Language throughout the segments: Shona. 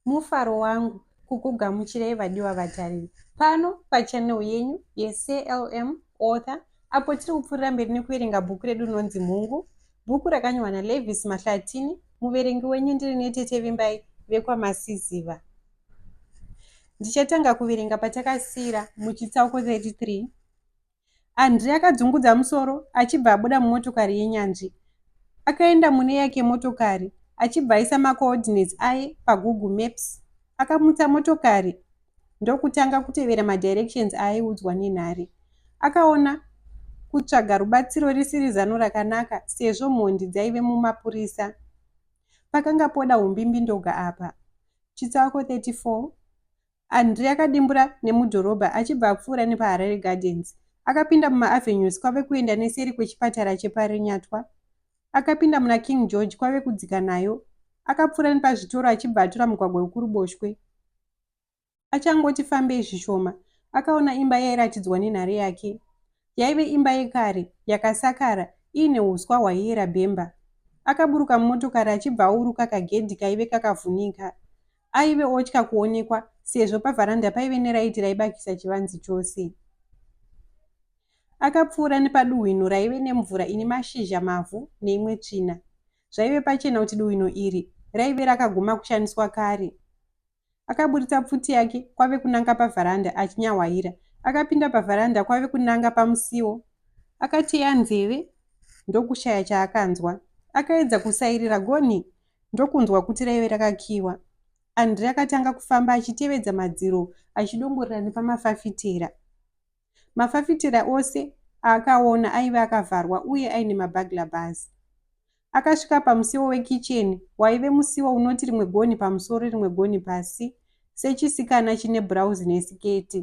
mufaro wangu kukugamuchirai vadiwa vatariri pano pachanel yenyu yeclm author apo tiri kupfuurira mberi nekuverenga bhuku redu rinonzi mhungu bhuku rakanyorwa nalevis mahlatini muverengi wenyu ndiri netete vimbai vekwamasiziva Ndichatanga kuverenga patakasiyira muchitsauko 33. Andre akadzungudza musoro achibva abuda mumotokari yenyanzvi. Akaenda mune yake motokari achibva aisa macoordinates aye pagoogle maps. Akamutsa motokari ndokutanga kutevera madirections aaiudzwa nenhari. Akaona kutsvaga rubatsiro risiri zano rakanaka sezvo mhondi dzaive mumapurisa. Pakanga poda umbimbindoga apa. Chitsauko 34 André akadimbura nemudhorobha achibva apfuura nepaHarare Gardens. Akapinda mumaAvenues kwave kuenda neseri kwechipatara cheParirenyatwa. Akapinda muna King George kwave kudzika nayo. Akapfuura nepazvitoro achibva atora mugwagwa wekuruboshwe. Achangoti fambei zvishoma, akaona imba yairatidzwa nenhare yake. Yaive imba yekare, yakasakara, iine huswa hwaiyera bhemba. Akaburuka mumotokari achibva auruka kagedhi kaive kakavhunika. Aive otya kuonekwa sezvo pavharanda paive neraiti raibakisa chivanze chose. Akapfuura nepaduhwino raive nemvura ine mashizha mavhu neimwe tsvina. Zvaive pachena kuti duhwino iri raive rakaguma kushandiswa kare. Akaburitsa pfuti yake kwave kunanga pavharanda achinyahwaira. Akapinda pavharanda kwave kunanga pamusiwo. Akateya nzeve ndokushaya chaakanzwa. Akaedza kusairira gonhi ndokunzwa kuti raive rakakiiwa. Andre akatanga kufamba achitevedza madziro achidongorera nepamafafitera. Mafafitera ose aakaona aive akavharwa uye aine mabagla bars. Akasvika pamusiwo wekicheni waive musiwo unoti rimwe gonhi pamusoro rimwe gonhi pasi sechisikana chine bhurauzi nesiketi.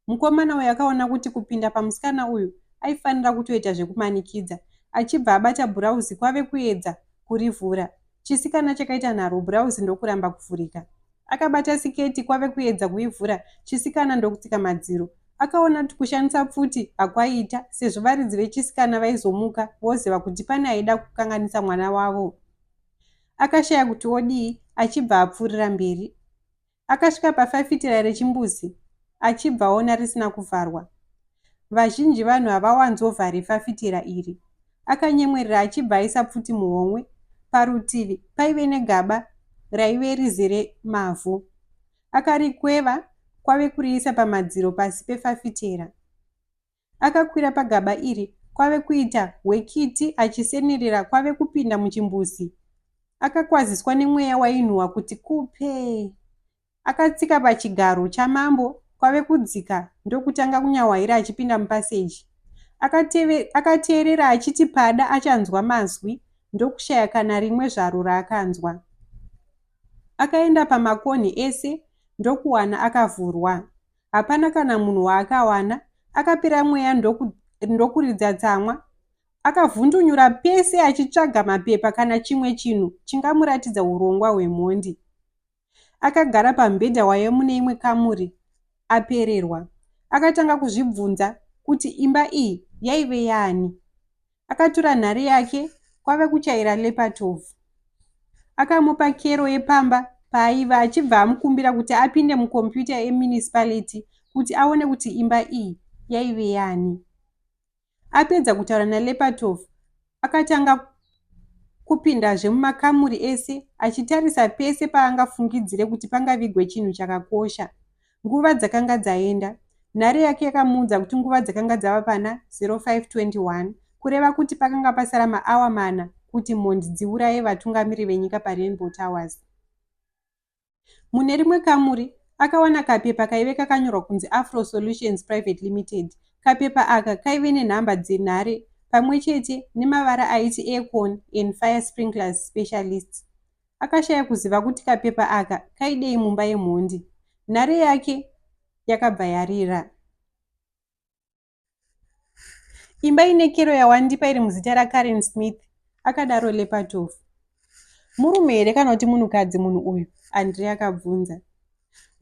Mukomana uyu akaona kuti kupinda pamusikana uyu aifanira kutoita zvekumanikidza achibva abata bhurauzi kwave kuedza kurivhura. Chisikana chakaita nharo bhurauzi ndokuramba kuvhurika. Akabata siketi kwave kuedza kuivhura chisikana ndokutsika madziro. Akaona kuti kushandisa pfuti hakwaita sezvo varidzi vechisikana vaizomuka voziva kuti pane aida kukanganisa mwana wavo. Akashaya kuti odii achibva apfuurira mberi. Akasvika pafafitera rechimbuzi achibva aona risina kuvharwa. Vazhinji vanhu havawanzovhari fafitera iri. Akanyemwerera achibva aisa pfuti muhomwe. Parutivi paive negaba raive rizere mavhu. Akarikweva kwave kuriisa pamadziro pasi pefafitera. Akakwira pagaba iri kwave kuita hwekiti achisenerera kwave kupinda muchimbuzi. Akakwaziswa nemweya wainhuhwa kuti kupe. Akatsika pachigaro chamambo kwave kudzika ndokutanga kunyahwaira achipinda mupaseji. Akateve, akateerera achiti pada achanzwa mazwi ndokushaya kana rimwe zvaro raakanzwa. Akaenda pamakonhi ese ndokuwana akavhurwa. Hapana kana munhu waakawana. Akapera mweya ndoku, ndokuridza tsamwa. Akavhundunyura pese achitsvaga mapepa kana chimwe chinhu chingamuratidza urongwa hwemhondi. Akagara pambhedha waive mune imwe kamuri apererwa. Akatanga kuzvibvunza kuti imba iyi yaive yaani. Akatura nhare yake kwave kuchaira Lepatov. Akamupa kero yepamba paaive achibva amukumbira kuti apinde mukombiyuta yemunicipality kuti aone kuti imba iyi yaive yaani. Apedza kutaura naLepatov, akatanga kupindazve mumakamuri ese achitarisa pese paangafungidzire kuti pangavigwe chinhu chakakosha. Nguva dzakanga dzaenda. Nhare yake yakamuudza kuti nguva dzakanga dzava pana 0521, kureva kuti pakanga pasara maawa mana kuti mhondi dziuraye vatungamiri venyika paRainbow Towers. Mune rimwe kamuri, akawana kapepa kaive kakanyorwa kunzi Afro Solutions Private Limited. Kapepa aka kaive nenhamba dzenhare pamwe chete nemavara aiti Aircon and Fire Sprinklers Specialists. Akashaya kuziva kuti kapepa aka kaidei mumba yemhondi. Nhare yake yakabva yarira. Imba ine kero yawandipa iri muzita raKaren Smith, akadaro Lepatov. Murume here kana kuti munhukadzi munhu uyu? Andrei akabvunza.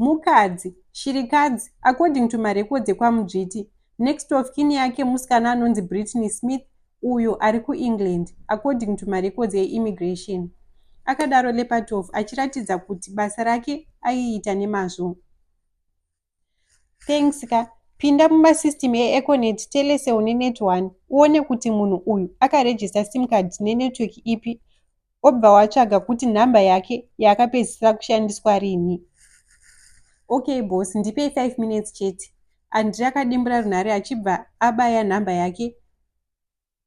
Mukadzi, shirikadzi, according to marecords ekwaMudzviti. Next of kin yake musikana anonzi Brittany Smith uyo ari kuEngland, according to marecords eimmigration. Akadaro Lepatov achiratidza kuti basa rake aiita nemazvo. thanks ka pinda mumasystem eeconet telecel nenet one uone kuti munhu uyu akarejista sim card nenetwork ipi obva watsvaga kuti nhamba yake yaakapedzisira kushandiswa rini okay bos ndipei 5 minutes chete andri akadimbura runhare achibva abaya nhamba yake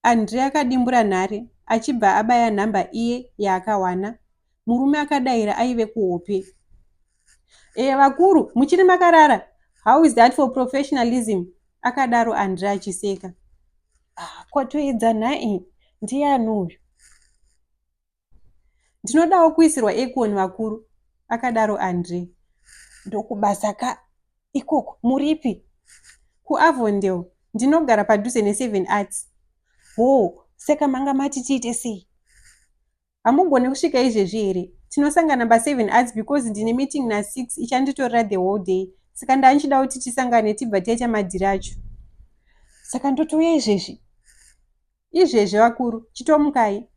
Andre akadimbura nhare achibva abaya number iye yaakawana. Murume akadaira aive kuhope. Eh vakuru muchiri makarara how is that for professionalism akadaro Andre achiseka. Ah, kwatoedza nhai ndiani uyu? ndinodawo kuisirwa ekuoni vakuru akadaro andre ndokubasa ka ikoko muripi kuavondale ndinogara padhuze neseven arts hoo saka manga mati tiite sei hamugone kusvika izvezvi here tinosangana paseven arts because ndine meeting nasix ichanditorera the whole day saka ndandichida kuti tisangane tibva taita madhiri acho saka ndotouya izvezvi Izvezvi vakuru, chitomukai.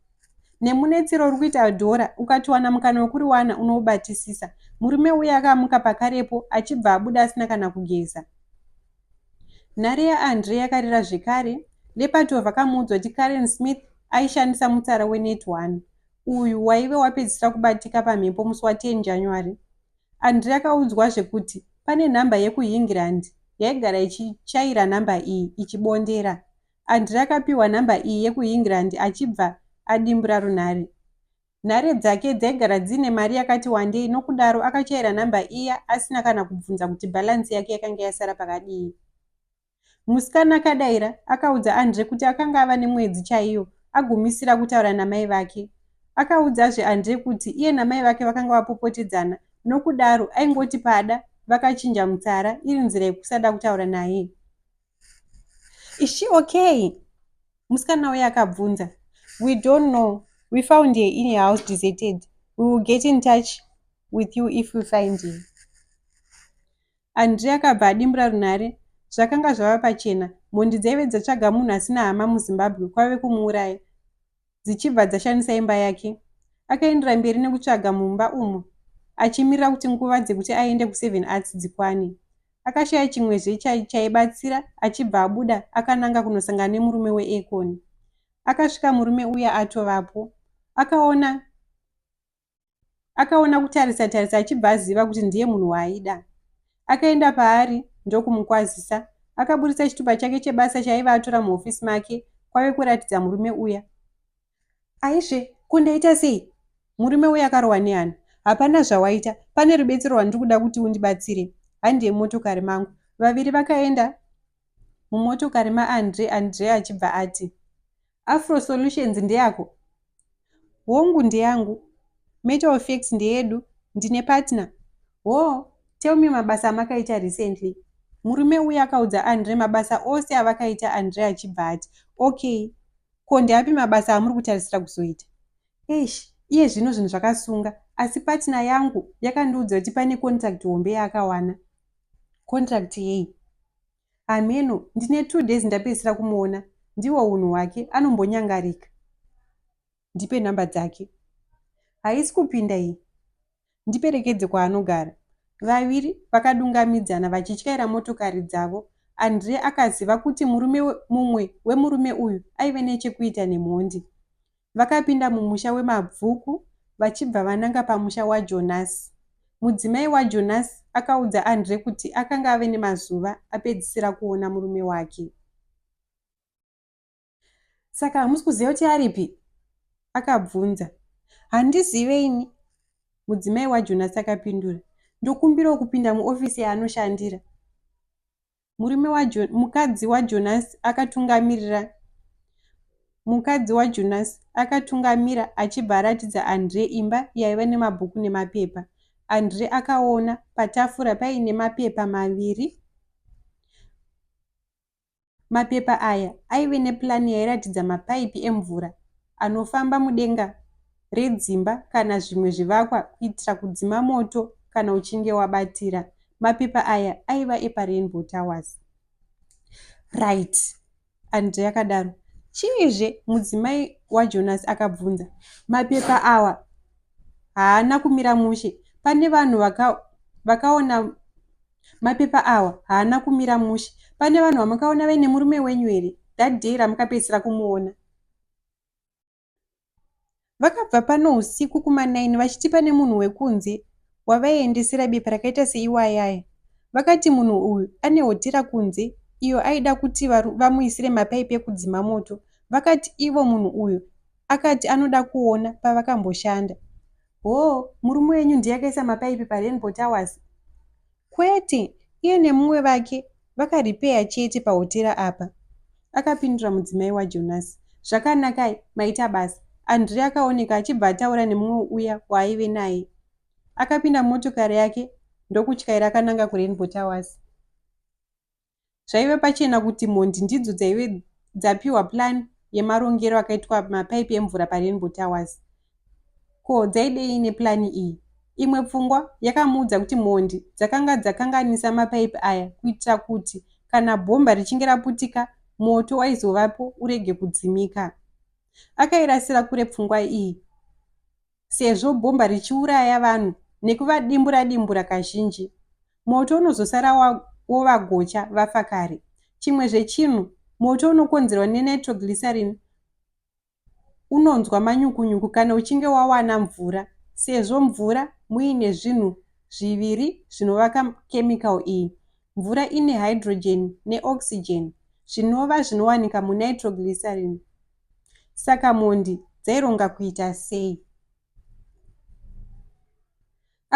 Nemunetsero uri kuita Adora, ukatiwana mukana wekuriwana unoubatisisa. Murume uya akamuka pakarepo achibva abuda asina kana kugeza. Nhare yaAndre yakarira zvekare. Lepato vakamuudzwa kuti Karen Smith aishandisa mutsara weNet One uyu waive wapedzisira kubatika pamhepo musi wa 10 January. Andrea akaudzwazve kuti pane nhamba yekuEngland yaigara ichichaira nhamba iyi ichibondera. André akapihwa nhamba iyi yekuEngland achibva adimbura runhare. Nhare dzake dzaigara dziine mari yakati wandei nokudaro akachaira nhamba iya asina kana kubvunza kuti balance yake yakanga yasara pakadii. Musikana akadaira akaudza André kuti akanga ava nemwedzi chaiyo agumisira kutaura namai vake. Akaudzazve André kuti iye namai vake vakanga vapopotedzana nokudaro aingoti pada vakachinja mutsara iri nzira yekusada kutaura naye. Is she okay? Musikana uye akabvunza. We don't know. We found her in a house deserted. We will get in touch with you if we find her. Andrea akabva adimbura runhare. Zvakanga zvava pachena. Mhondi dzaive dzatsvaga munhu asina hama muZimbabwe kwave kumuuraya. dzichibva dzashandisa imba yake. Akaendera mberi nekutsvaga mumba umu achimirira kuti nguva dzekuti aende kuSeven Arts dzikwane. Akashaya chimwezve chaibatsira achibva abuda akananga kunosangana nemurume weAcon. Akasvika murume uya atovapo. Akaona Akaona kutarisa tarisa achibva aziva kuti ndiye munhu waaida. Akaenda paari ndokumukwazisa. Akaburitsa chitupa chake chebasa chaiva atora muhofisi make kwave kuratidza murume uya. Aizve, ko ndaita sei? Murume uya akarohwa nehana. Hapana zvawaita, pane rubetsero rwandiri kuda kuti undibatsire. Handi yemotokari mangu. Vaviri vakaenda mumotokari maAndre, Andre achibva ati. Afro Solutions ndeyako? Hongu ndeyangu. Metal Effects ndeyedu. Ndine partner. Hoo, tell me mabasa amakaita recently. Murume uya akaudza Andre mabasa ose avakaita Andre achibva ati, okay, ko ndeapi mabasa amuri kutarisira kuzoita? Eish, iye zvino zvinhu zvakasunga, asi partner yangu yakandiudza kuti pane contract hombe yaakawana. Contract yei? Hameno, ndine two days ndapedzisira kumuona, ndihwo hunhu hwake, anombonyangarika. Ndipe number dzake. Haisi kupinda iyi. Ndiperekedze kwaanogara. Vaviri vakadungamidzana vachityaira motokari dzavo. Andre akaziva kuti murume mumwe wemurume uyu aive nechekuita nemhondi. vakapinda mumusha weMabvuku vachibva vananga pamusha waJonasi. Mudzimai waJonasi akaudza Andre kuti akanga ave nemazuva apedzisira kuona murume wake. Saka hamusi kuziva kuti aripi? akabvunza. Handizive ini, mudzimai waJonasi akapindura. Ndokumbirawo kupinda muofisi yaanoshandira. murume wajo, mukadzi wajonasi akatungamirira mukadzi wajonasi akatungamira achibva aratidza andre imba yaiva nemabhuku nemapepa andre akaona patafura paine mapepa maviri mapepa aya aive nepulani yairatidza mapaipi emvura anofamba mudenga redzimba kana zvimwe zvivakwa kuitira kudzima moto kana uchinge wabatira. Mapepa aya aiva epaRainbow Towers. Right, Andre akadaro. Chiizve? mudzimai waJonas akabvunza. Mapepa awa haana kumira mushe. Pane vanhu vaka, vakaona mapepa awa haana kumira mushe. Pane vanhu vamakaona vaine murume wenyu here that day ramukapedzisira kumuona? Vakabva pano husiku kumanaini vachiti pane munhu wekunze wavaiendesera bepa rakaita seiwayaya. Vakati munhu uyu ane hotera kunze iyo aida kuti vamuisire mapaipi ekudzima moto. Vakati ivo munhu uyu akati anoda kuona pavakamboshanda. Hoo, murume wenyu ndiye akaisa mapaipi paRainbow Towers? Kwete, iye nemumwe vake vakaripeya chete pahotera apa, akapindura mudzimai waJonasi. Zvakanaka, maita basa. Andrea akaoneka achibva ataura nemumwe uya waaive naye. Akapinda mumotokari yake ndokutyaira akananga kuRainbow Towers. Zvaive pachena kuti mhondi ndidzo dzaive dzapiwa plan yemarongero akaitwa mapaipi emvura paRainbow Towers. Ko dzaidei neplan iyi? Imwe pfungwa yakamuudza kuti mhondi dzakanga dzakanganisa mapaipi aya kuitira kuti kana bhomba richinge raputika moto waizovapo urege kudzimika. Akairasira kure pfungwa iyi. sezvo bhomba richiuraya vanhu nekuvadimbura-dimbura kazhinji. Moto unozosara wovagocha vafa kare. Chimwezve chinhu, moto unokonzerwa nenitroglycerin unonzwa manyukunyuku kana uchinge wawana mvura sezvo mvura muine zvinhu zviviri zvinovaka chemical iyi. Mvura ine hydrogen neoxygen zvinova zvinowanika munitroglycerin. Saka mhondi dzaironga kuita sei?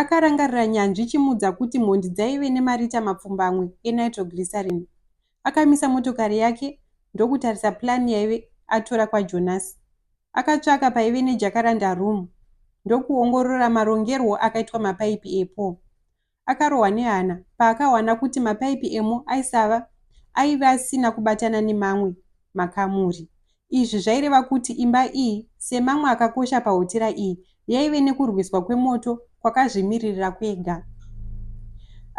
Akarangarira nyanzvi ichimuudza kuti mhondi dzaive nemarita mapfumbamwe enitroglycerin. Akamisa motokari yake ndokutarisa plan yaive atora kwaJonas. Akatsvaka paive nejacaranda room ndokuongorora marongerwo akaitwa mapaipi epo. Akarohwa nehana paakawana kuti mapaipi emo aisava aive asina kubatana nemamwe makamuri. Izvi zvaireva kuti imba iyi, semamwe akakosha pahotera iyi, yaive nekurwiswa kwemoto kwakazvimiririra kwega.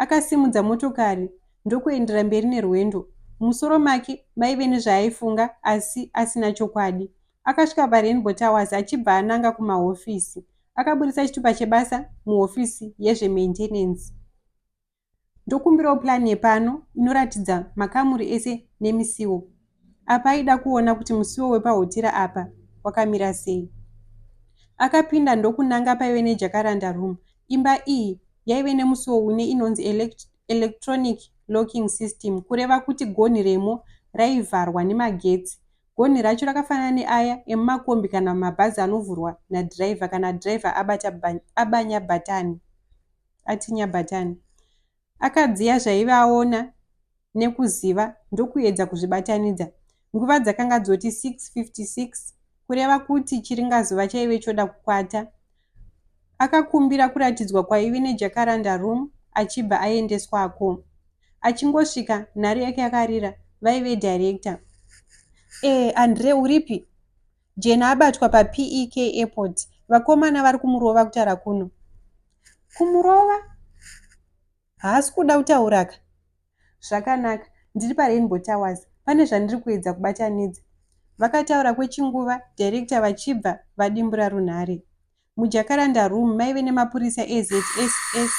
Akasimudza motokari ndokuendera mberi nerwendo. Mumusoro make maive nezvaaifunga asi asina chokwadi. Akasvika paRainbow Towers achibva ananga kumahofisi. Akaburitsa chitupa chebasa muhofisi yezvemaintenance. Ndokumbirawo plan yepano inoratidza makamuri ese nemisiwo. Apa aida kuona kuti musiwo wepahotera apa wakamira sei. Akapinda ndokunanga paive nejakaranda room. Imba iyi yaive nemusiwo une inonzi elect electronic locking system kureva kuti gonhi remo raivharwa nemagetsi Gonhi racho rakafanana neaya emumakombi kana mumabhazi anovhurwa nadhiraivha kana dhiraivha abata aba nyabhatani ati nyabhatani. Akadziya zvaive aona nekuziva ndokuedza kuzvibatanidza. Nguva dzakanga dzoti 6:56 kureva kuti chiringazuva chaive choda kukwata. Akakumbira kuratidzwa kwaive nejacaranda room achibva aendeswako. Achingosvika nhare yake yakarira vaive director. Eh Andre uripi? Jane abatwa paPEK airport vakomana vari kumurova kutara kuno. Kumurova? Haasi kuda kutauraka. Zvakanaka, ndiri paRainbow Towers, pane zvandiri kuedza kubatanidza. Vakataura kwechinguva, director vachibva vadimbura runhare. MuJacaranda Room maive nemapurisa eZSS,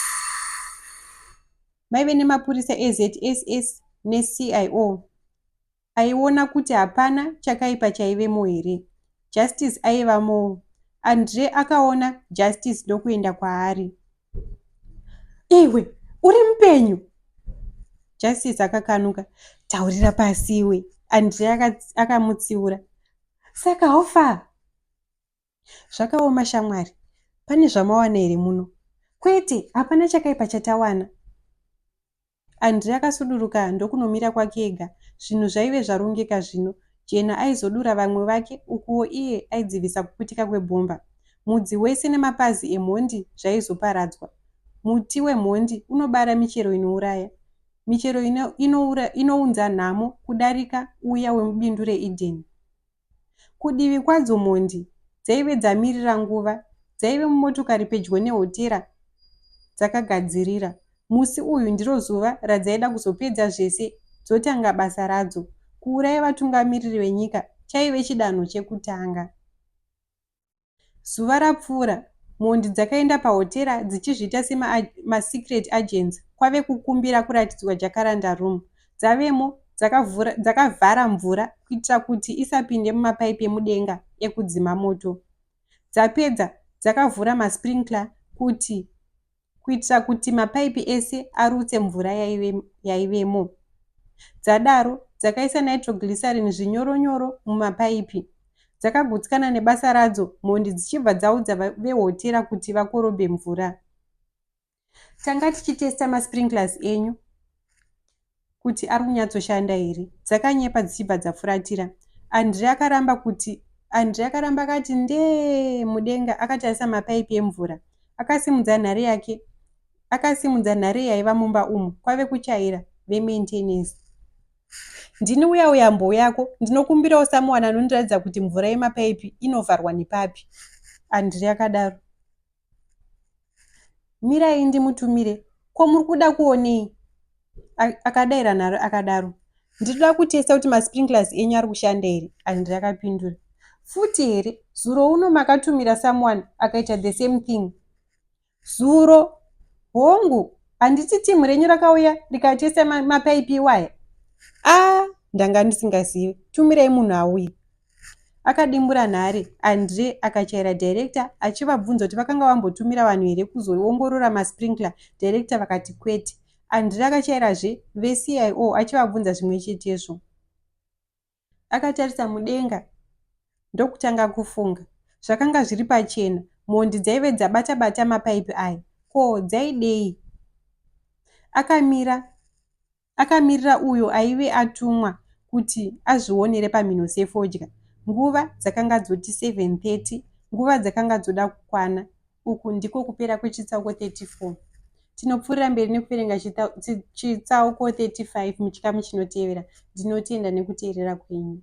maive nemapurisa eZSS neCIO. aiona kuti hapana chakaipa chaivemo here justice aivamoo andre akaona justice ndokuenda kwaari iwe uri mupenyu justice akakanuka taurira pasi iwe andre akamutsiura saka hofa zvakaoma shamwari pane zvamawana here muno kwete hapana chakaipa chatawana Andre akasuduruka ndokunomira kwake ega. Zvinhu zvaive zvarongeka zvino. Jane aizodura vamwe vake ukuwo iye aidzivisa kuputika kwebhomba. Mudzi wese nemapazi emhondi zvaizoparadzwa. Muti wemhondi unobara michero inouraya. Michero inoura inounza nhamo kudarika uya wemubindu reEden. Kudivi kwadzo mhondi dzaive dzamirira nguva dzaive mumotokari pedyo nehotera dzakagadzirira. Musi uyu ndiro zuva radzaida kuzopedza zvese dzotanga basa radzo. Kuuraya vatungamiriri venyika chaive chidanho chekutanga. Zuva rapfuura, mhondi dzakaenda pahotera dzichizviita sema ma secret agents kwave kukumbira kuratidzwa jacaranda room. Dzavemo dzakavhura dzakavhara mvura kuitira kuti isapinde mumapaipi emudenga ekudzima moto. Dzapedza dzakavhura ma sprinkler kuti kuitira kuti mapaipi ese arutse mvura yaivemo. Dzadaro, dzakaisa nitroglycerin zvinyoronyoro mumapaipi. Dzakagutsikana nebasa radzo, mhondi dzichibva dzaudza vehotera kuti vakorobhe mvura. Tanga tichitesta masprinklers enyu. kuti ari kunyatsoshanda here dzakanyepa dzichibva dzafuratira Andre akaramba kuti Andre akaramba akati ndee mudenga akatarisa mapaipi emvura akasimudza nhare yake akasimudza nhare yaiva mumba umu kwave kuchaira vemaintenance ndini uya uya mbo yako ndinokumbirawo samuwana anondiratidza kuti mvura yemapaipi inovharwa nepapi andiri akadaro Mirai ndimutumire. Ko muri kuda kuonei? Akadaira nharo akadaro. Ndiri kuda kutesta kuti masprinklers enyu ari kushanda here? Andri akapindura. Futi here? Zuro uno makatumira someone akaita the same thing. Zuro? Hongu, handiti team renyu rakauya rikatesta mapaipi iwaya? Ah, ndanga ndisingazivi. Tumirai munhu auye. Akadimbura nhare, Andre akachaira director achivabvunza kuti vakanga vambotumira vanhu here kuzoongorora masprinkler, director vakati kwete. Andre akachairazve veCIO achivabvunza zvimwe chetezvo. Akatarisa mudenga ndokutanga kufunga. Zvakanga zviri pachena, mhondi dzaive dzabata-bata mapaipi aya. Ko dzaidei? Akamira akamirira uyo aive atumwa kuti azvionere pamhino sefodya. Nguva dzakanga dzoti 7:30, nguva dzakanga dzoda kukwana. Uku ndiko kupera kwechitsauko 34. Tinopfuurira mberi nekuverenga chitsauko 35 muchikamu chinotevera. Ndinotenda nekuteerera kwenyu.